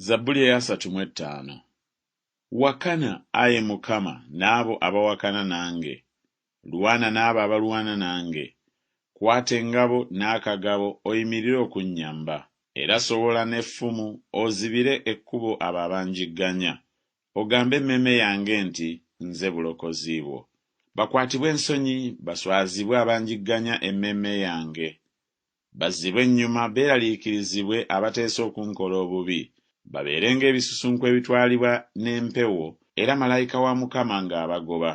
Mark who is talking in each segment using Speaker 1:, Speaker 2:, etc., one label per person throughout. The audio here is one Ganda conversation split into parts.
Speaker 1: Zabbuli eyasatu mu ettaano. Wakana, ayi Mukama, n'abo abawakana nange, lwana n'abo abalwana nange, kwata engabo n'akagabo oyimirire okunnyamba, era sowola n'effumu ozibire ekkubo abo abanjigganya, ogambe emmeeme yange nti, Nze bulokozi bwo. Bakwatibwe ensonyi, baswazibwe abanjigganya emmeeme yange, Bazzibwe ennyuma, beeraliikirizibwe abateesa okunkola obubi, babeere ng'ebisusunku ebitwalibwa n'empewo, era malayika wa Mukama ng'abagoba.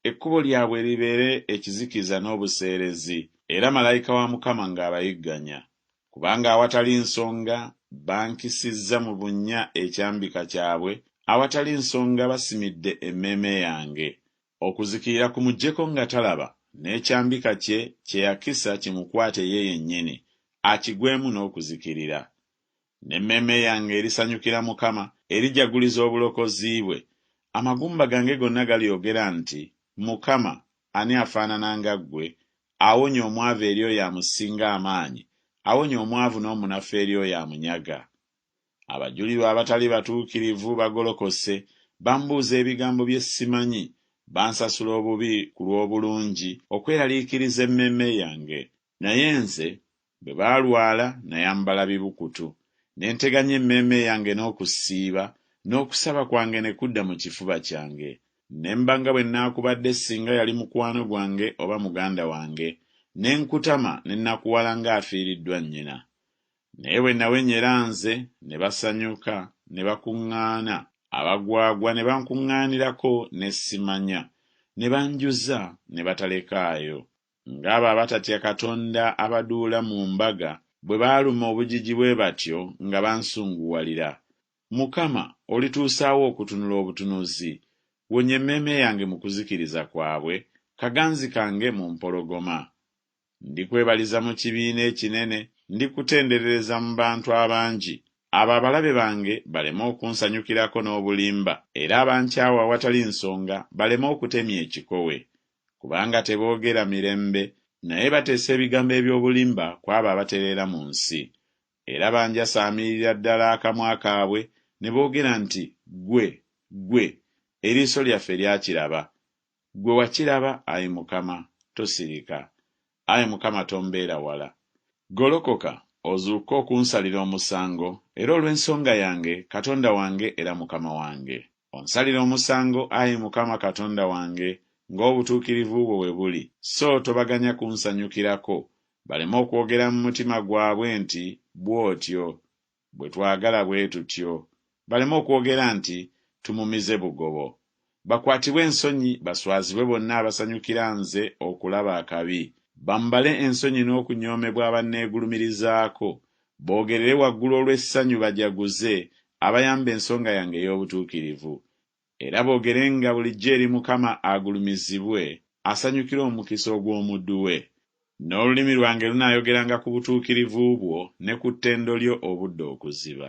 Speaker 1: Ekkubo lyabwe libeere ekizikiza n'obuseerezi, era malayika wa Mukama ng'abayigganya. Kubanga awatali nsonga bankisizza mu bunnya ekyambika kyabwe, awatali nsonga basimidde emmeeme yange. Okuzikirira kumujjeko nga talaba, n'ekyambika kye kye yakisa kimukwate ye yennyini, akigwemu n'okuzikirira. N'emmeeme yange erisanyukira Mukama, erijaguliza obulokozi bwe. Amagumba gange gonna galyogera nti, Mukama, ani afaanana nga ggwe, awonya omwavu eri oyo amusinga amaanyi, awonya omwavu n'omunafu eri oyo amunyaga? Abajulirwa abatali batuukirivu bagolokose, bambuuza ebigambo bye simanyi, bansasula obubi ku lw'obulungi, okweraliikiriza emmeeme yange. Naye nze, bwe balwala, nayambala bibukutu, ne nteganya emmeeme yange n'okusiiba, n'okusaba kwange ne kudda mu kifuba kyange. Ne mba nga bwe naakubadde singa yali mukwano gwange oba muganda wange, ne nkutama ne nakuwala ng'afiiriddwa nnyina. Naye bwe nawenyera nze, ne basanyuka, ne bakuŋŋaana, abagwagwa ne bankuŋŋaanirako ne simanya, ne banjuza ne batalekaayo, ng'abo abatatya Katonda abaduula mu mbaga bwe baaluma obujiji bwe batyo nga bansunguwalira. Mukama, olituusaawa okutunula obutunuzi? Wonya emmeeme yange mu kuzikiriza kwabwe, kaganzi kange mu mpologoma. Ndikwebaliza mu kibiina ekinene, ndikutenderereza mu bantu abangi, abo abalabe bange baleme okunsanyukirako n'obulimba, era abankyawa awatali nsonga baleme okutemya ekikowe. Kubanga teboogera mirembe, naye bateesa ebigambo eby'obulimba ku abo abatereera mu nsi. Era banjasaamirira ddala akamwa kaabwe, ne boogera nti, Ggwe, ggwe, eriiso lyaffe lyakiraba. Ggwe wakiraba, ayi Mukama, tosirika. Ayi Mukama, tombeera wala. Golokoka, ozuukke okunsalira omusango, era olw'ensonga yange, Katonda wange era Mukama wange. Onsalire omusango, ayi Mukama Katonda wange, nga obutuukirivu bwo bwe buli, so tobaganya kunsanyukirako, baleme okwogera mu mutima gwabwe nti, Bw'otyo, Bwe twagala bwe tutyo, baleme okwogera nti, Tumumize bugobo. Bakwatibwe ensonyi, baswazibwe bonna abasanyukira nze okulaba akabi, bambale ensonyi n'okunyoomebwa abanneegulumirizaako, boogerere waggulu olw'essanyu bajaguze abayamba ensonga yange ey'obutuukirivu. Era boogerenga bulijjo eri Mukama agulumizibwe, asanyukire omukisa ogw'omuddu we. N'olulimi lwange lunaayogeranga ku butuukirivu bwo ne ku ttendo lyo obudde okuziba.